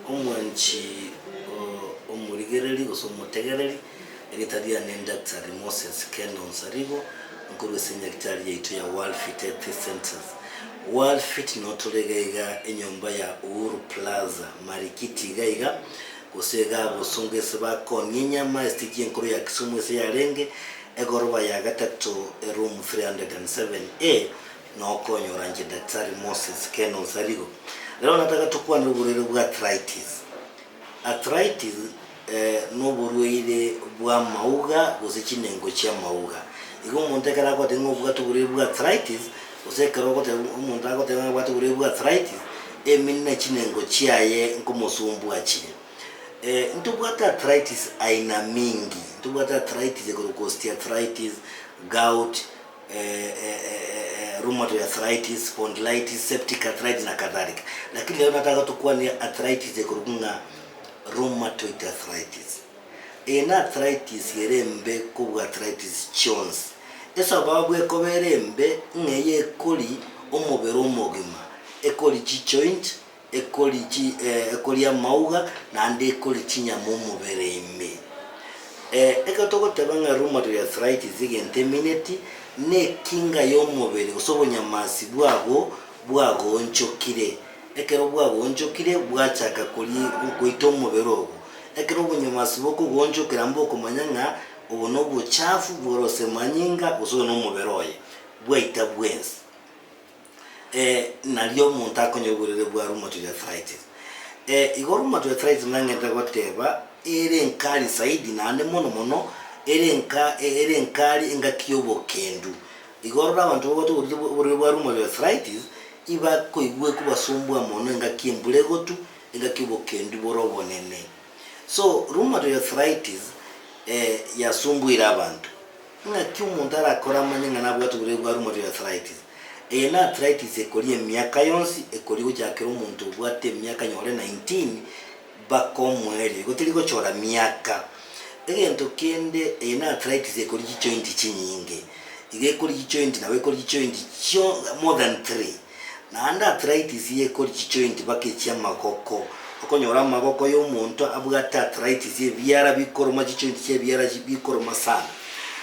Omwanchi o omorigereri gose omotegereri, erieta riane Daktari Moses Kendall Nsarigo, nkorwa ase enyagetari yaito ya World Fit Healthy Centres. World Fit noo tore iga iga enyomba ya Uhuru Plaza, Marikiti iga iga, gose iga agosonga ase bakoonia enyama, esitiki enkoro ya Kisumu ase yarenge egoroba ya gatato eroom 307A Nokonyoranche Daktari Moses Ken Osarigo, rero onye nataka tokwane oborwaire bwa arthritis. Arthritis noborwaire bw'amauga gose chinengo chi'amauga. Igo omonto ekero agogotebi ng'a obwate oborwaire bwa arthritis, gose ekero ogotebi omonto agotebi ng'a nabwate oborwaire bwa arthritis, emenwa ne chinengo chiaye nkomosumbua chire. Ntobwate arthritis aina mingi, ntobwate arthritis ekero osteoarthritis, gout. rheumatoid arthritis, spondylitis, septic arthritis na kadhalika, lakini lero nataka tokwanie arthritis ekorokwa ng'a rheumatoid arthritis. Eye n'arthritis ere embe kobua arthritis chionsi. Esababu ekoba ere embe ng'a eye ekori omobere omogima, ekori chijoint, ekori chi, eh, ekori amauga, naende ekori chinyama omobere ime. Eh, ekero togoteba ng'a rheumatoid arthritis, egento emineti, nekinga y'omobere gose obonyamasi bwabo bwagoonchokire. Ekero bwagoonchokire, bwachaka kori goita omobere obo. Ekero obonyamasi bokogoonchokera mbokomanya ng'a obo nobochafu bore gose manyinga gose oyo nomobere oye, bwaita bwensi. ee, nario omonto akonyorigwa riria bwa rheumatoid arthritis. Ee, igo rheumatoid arthritis nang'entete goteba ere enkari zaidi naende mono mono ere enka ere enkari engaki y'obokendu. Igo rora abanto babwate oborwaire bwa oborwaire bwa rheumatoid arthritis, ibakoigwa ekobasumbua mono engaki embura egotu, engaki obokendu bore obonene. So, rheumatoid arthritis ee yasumbuire abanto, Naki omonto arakore amanye ng'a nabwate oborwaire bwa rheumatoid arthritis. Eye n'arthritis ekoria emiaka yonsi, ekoria gochakera omonto obwate emiaka nyore 19 baka omoerio, igo teri gochora miaka. Egento kende, eye n'arthritis ekoria chijoint chinyinge. Iga ekoria chijoint nabo ekoria chijoint chio more than three. Naende arthritis y'ekori chijointi mpaka echia amagoko. Okonyora amagoko y'omonto abwate arthritis ebiara bikoroma chijointi chia ebiara bikoroma sana.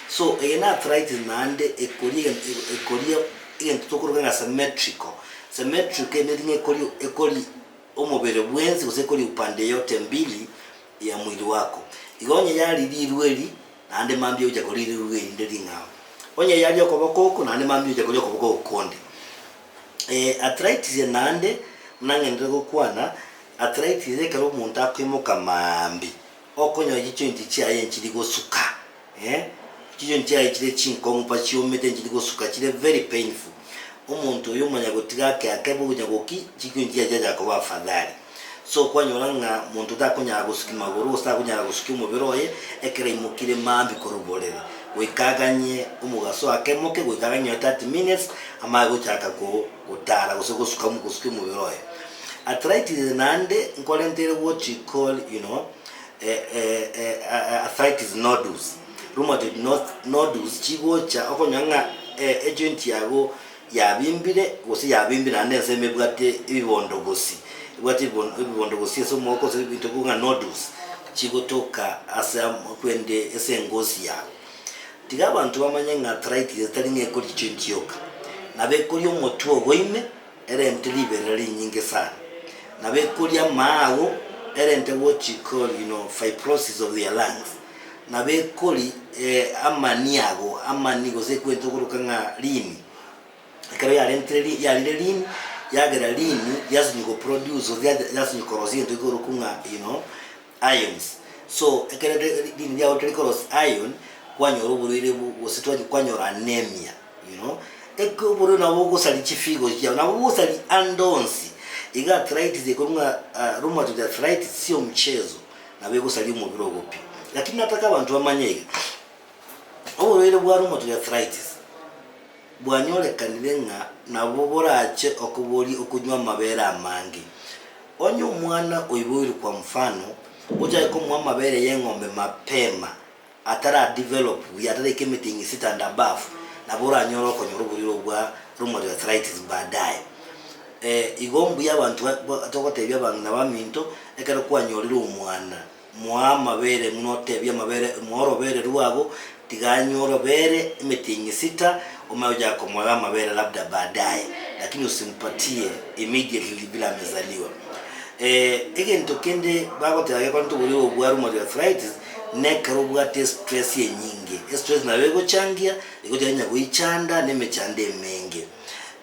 So eye na arthritis naende ekori egento ekori egento tokoroka ng'a symmetrical. Symmetrical emeeti ng'a ekori ekori omobere bwensi gose ekori upande yote mbili ya mwili wako. Igo onye yaririrwe erii. naende mambia ogocha koria rirugu erinde ring'ao. Onye yaria okoboko oko, naende mambia ogocha koria okoboko okonde. Eh, arthritis eye naende, buna ng'endire gokwana, arthritis eye ekero omonto akoimoka maambia, okonyora chijointi chiaye nchiri gosuka, eh, chijointi chiaye chire chinkong'u mpaka chiomete nchiri gosuka, chire very painful. Omonto oyo omanya gotiga ake ake bogonya goki, chijointi chiaye chiachaka koba afadhali. Sokonyora ng'a monto takonyara gosukia magoro gose takonyara gosukia omobere oye ekero aimokire mambia korwa oborere, goika aganye omogaso ake moke, goika aganye nonya 30 minutes amanye gochaka gotara gose gosuka gosukia omobere oye. Arthritis naende nkorentere what we call you know arthritis nodules, rheumatoid nodules chigocha okonyora ng'a ejoint yago yabimbire, gose yabimbire naende ensemo ebwate ebibondogosi, ebwate ebibo- ebibondogosi ase omooka gose ebinto bikobua ng'a nodules, chigotoka ase am- kwende ase engoosi yabo. Tiga abanto bamanye ng'a traitire tari ng'a ekoria chionsi chioka, nabo ekoria omotwe ogo ime, erente riberera rinyinge sana, nabo ekoria amaago, erente what you call you know fibrosis of their lungs. Ng'a bekori amani ago, amani, gose ekwentwe goroka ng'a lini, ekero yarentire lini, yarire lini, yagera lini, yasinywa go produce or ya- yasinywa korosia egento ekorokwa ng'a you know ions. So ekero ri- ri- lini riago rikare korosia ion, kwanyora oborwaire bu gose twachia kwanyora anaemia you know. Eke oborwaire nabo bogosaria chifigo chiao, nabo bogosaria ande onsi, iga arthritis ekorwa ng'a rheumatoid arthritis si omchezo, nabo egosaria omobere obo pi. Lakini nataka abanto bamanye iga, oborwaire bwa rheumatoid arthritis bwanyorekanire ng'a nabo borache okoborie okonywa amabere amange. Onye omwana oiboirwe kwa mfano, ochake komoa amabere y'eng'ombe mapema. atara develop buya, ataraika emete ing'e sit and above, nabo oranyore okonyora oboriro obwo bwa rheumatoid arthritis baadaye. Igo mbuya abanto togotebia abang'ina baminto, ekero kwanyorire omwana, moa amabere buna otebia amabere, moa orobere rwabo, tiga anywe orobere emete ing'e sita, omanye gochaka komoega amabere labda baadaye, lakini usimpatie immediately bila amezaliwa. Egento kende bagoteba gekorenta oboriro obwo bwa rheumatoid arthritis, Na ekero obwate estress enyinge, estress nabo egochangia, egocha nonya goichanda, na emechando emenge.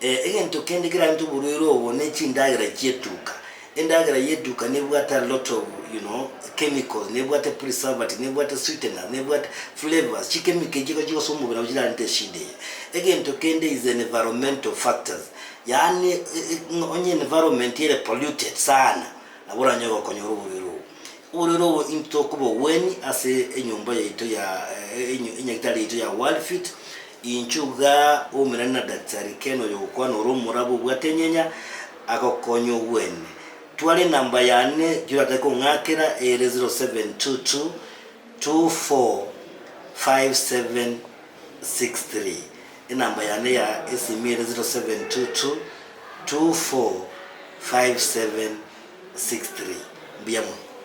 Egento kende kerarente oborwaire obo ne chindagera chietuka. Endagera yetuka nebwate a lot of you know chemicals, nebwate preservative, nebwate sweeteners, nebwate flavours, chikemiko echio ekero chigosoa omobere nabo chirarente eshida eye. Egento kende is environmental factors, yaani onye environment ere polluted sana, nabo oranyare gokonyora oborwaire obo. Ororo obo intwe tokobogwenia ase enyomba yaito ya enyagitari yaito ya World Fit, inchuo iga omerane na Daktari Ken oyo ogokwana ore omorabu obwate enyenya agokonye ogwene. Tware enamba yane ki oratake kong'akera ere 0722245763. Enamba yane ya esimi ere 0722245763. Mbuya mono.